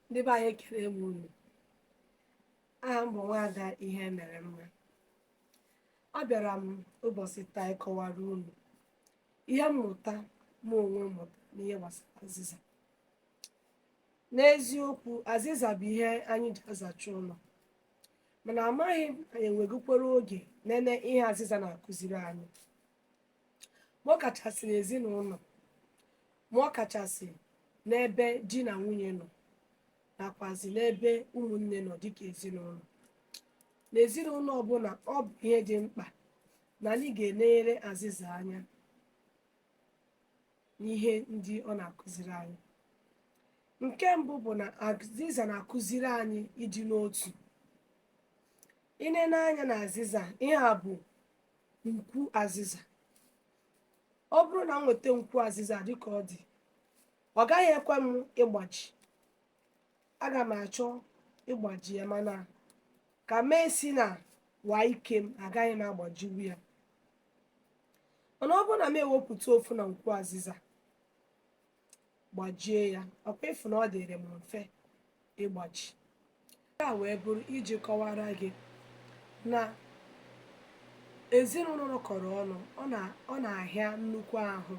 ndị be anyị ekele m unu aha m bụ nwaada ihe mere mma abịara m ụbọchị taa ịkọwara unu ihe mmụta mụ onwe m mụtara n'ihe gbasara azịza n'eziokwu azịza bụ ihe anyị ji azacha ụlọ mana amaghị m anyị enwegokwara oge nene ihe azịza na-akụziri anyị ma ọ kachasị n'ezinụlọ ma ọ kachasị n'ebe di na nwunye nọ nakwazi n'ebe ụmụnne nọ dịka ezinụlọ n'ezinụlọ ọbụla ọ bụ ihe dị mkpa na anyị ga-enenyere azịza anya n'ihe ndị ọ na-akụziri anyị nke mbụ bụ na azịza na-akụziri anyị ịdị n'otu ịnene anya na azịza ihe a bụ nkwu azịza ọ bụrụ na m nweta nkwu azịza dịka ọ dị ọ gaghị ekwe m ịgbaji aga m achọ ịgbaji ya mana ka m esina nwaa ike m agaghị m agbajiwu ya mana ọ bụrụ na m ewepụta ofu na nkwu azịza gbajie ya ọkwa ịfụ na ọ dịrị m mfe ịgbaji ya wee bụrụ iji kọwara gị na ezinụlọ nọkọrọ ọnụ ọ na-ahịa nnukwu ahụ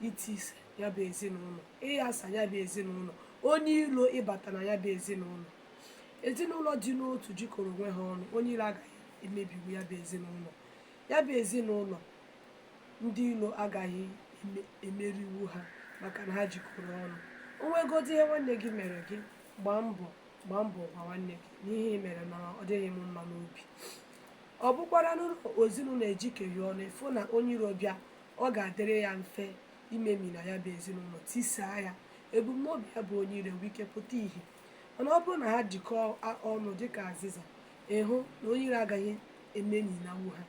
itise ya bụ ezinụlọ ịghasa ya bụ ezinụlọ onye ilo ịbata na ya bụ ezinụlọ ezinụlọ dị n'otu jikọrọ onwe ha ọnụ onye ilo agaghị emebiwu ya bụ ezinụlọ ya bụ ezinụlọ ndị ilo agaghị emeriwu ha maka na ha jikọrọ ọnụ o nwegodị ihe nwanne gị mere gị gbaa gbaa mbọ gwa nwanne gị n'ihe ị mere na ọ dịghị m mma n'obi ọ bụkwara n'ụlọ ezinụlọ ejikọghị ọnụ ịfụ na onye iro bịa ọ ga-adịrị ya mfe imemina ya bụ ezinụlọ tisaa ya ebumnobi ya bụ onye iro nwee ike pụta ihe mana ọ bụrụ na ha jikọọ ọnụ dịka azịza ịhụ na onye iro agaghị ememinanwu ha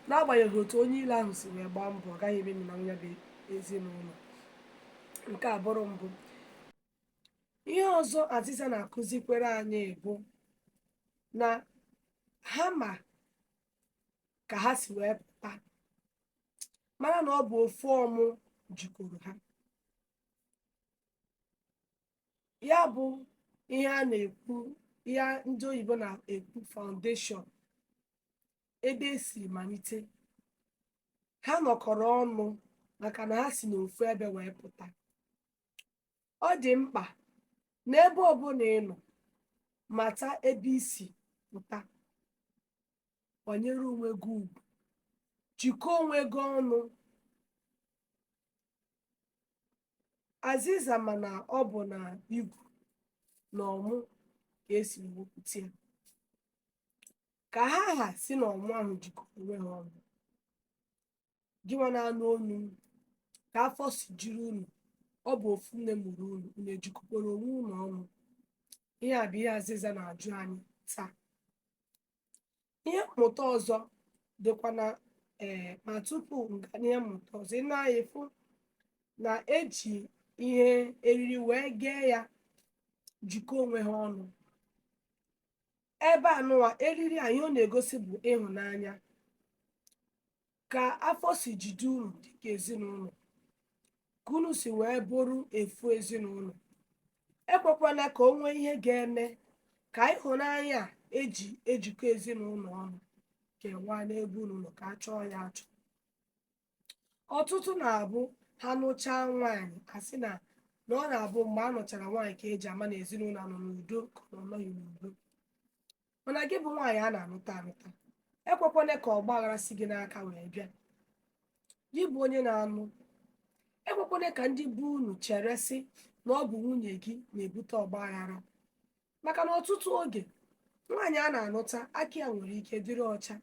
n'agbanyeghị otu onye iro ahụ si wee gbaa mbọ ọ gaghị ememinanwu ya bụ ezinụlọ nke a bụrụ mbụ ihe ọzọ azịza na-akụzikwere anyị bụ na ha ma ka ha si wee pụta mara na ọ bụ ofu ọmụ jikọrọ ha ya bụ ihe a na-ekwu ihe ndị oyibo na-ekwu foundation ebe e si malite ha nọkọrọ ọnụ maka na ha si n'ofu ebe wee pụta ọ dị mkpa n'ebe ọbụla ị nọ mata ebe i si pụta kwanyere onwe gị ugwu jikọọ onwe gị ọnụ azịza mana ọ bụ na igu na ọmụ ka esi wepụta ya ka ha ha si na ọmụ ahụ jikọọ onwe ha ọnụ gịnwa na-anụ olu m ka afọ si jiri unu ọ bụ ofu nne mụrụ unu unu ejikọkwara onwe unu ọnụ ihe a bụ ihe azịza na-ajụ anyị taa ihe mmụta ọzọ dịkwa na ee eh, ma tupu m gaa n'ihe mmụta ọzọ na anyị fụ na eji ihe eriri wee kee ya jikọọ onwe ha ọnụ ebe anụwa eriri a ihe ọ na-egosi bụ ịhụnanya ka afọ si jide unu dịka ezinụlọ ka unu si wee bụrụ ofu ezinụlọ ekwekwana ka o nwee ihe ga-eme ka ịhụnanya a eji ejikọ ezinụlọ ọnụ kewaa n'ebe unu nọ ka a chọọ ya achọ ọtụtụ na-abụ ha nụchaa nwaanyị asị na na ọ na-abụ mgbe a nụchara nwaanyị ka eji ama na ezinụlọ nọ n'udo ka ọ nọghị n'udo mana gị bụ nwaanyị a na-anụta anụta ekwekwana ka ọgba aghara si gị n'aka wee bịa gị bụ onye na-anụ ekwekwana ka ndị be unu chere sị na ọ bụ nwunye gị na-ebute ọgba aghara maka na ọtụtụ oge nwaanyị a na-anụta aka ya nwere ike dịrị ọcha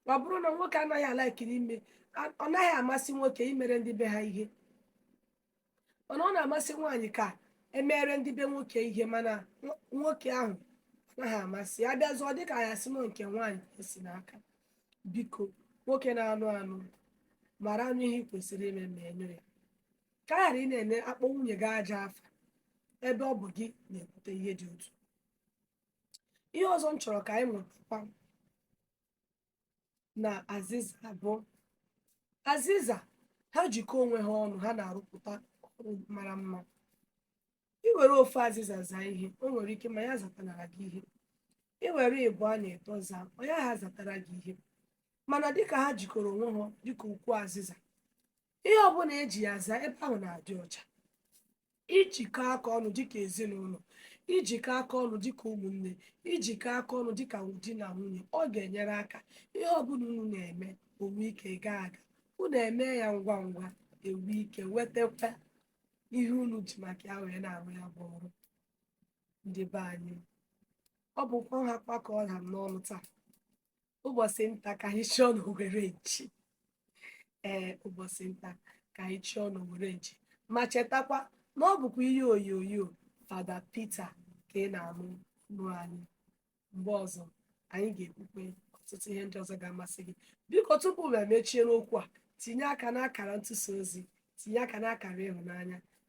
ma ọ bụrụ na nwoke anaghị a-like ime a- ọ naghị amasị nwoke imere ndị be ha ihe mana ọ na-amasị nwaanyị ka emere ndị be nwoke ihe mana nwo- nwoke ahụ anaghị amasị ya bịazie ọ dịka a sị na ọ nke nwaanyị ka esi n'aka biko nwoke na-anụ anụ maranụ ihe ị kwesịrị ime meenụ ya ka a ghara ị na-ene akpọ nwunye gị ajọ afa ebe ọ bụ gị na-ebute ihe dị otu ihe ọzọ m chọrọ ka anyị mụtakwa na azịza bụ azịza ha jikọọ onwe ha ọnụ ha na-arụpụta ọrụ mara mma i were ofu azịza zaa ihe o nwere ike ma ya zatanara gị ihe i were ịbụa na ịtọ zaa ọ ya ha zatara gị ihe mana dịka ha jikọrọ onwe ha dịka ukwu azịza ihe ọbụla eji ya zaa ebe ahụ na-adị ọcha ijikọ aka ọnụ dịka ezinụlọ ijikọ aka ọnụ dịka ụmụnne ijikọ aka ọnụ dịka di na nwunye ọ ga-enyere aka ihe ọbụla unu na-eme o nwee ike gaa aga unu emee ya ngwa ngwa enwee ike nwetakwa ihe unu ji maka ya wee na-arụ ya bụ ọrụ ndị be anyị ọ bụkwa nhakwa ka ọ ha m n'ọnụ taa ụbọchị nta ka anyị chụọ n'owere nchi ee ụbọchị nta ka anyị chụọ n'owere nchi ma chetakwa na ọ bụkwa ihe onyonyo fada peter ka ị na-anụ nụ anyị mgbe ọzọ anyị ga-ekwukwe ọtụtụ ihe ndị ọzọ ga-amasị gị biko tupu m emechie n'okwu a tinye aka n'akara ntụsa ozi tinye aka n'akara ịhụnanya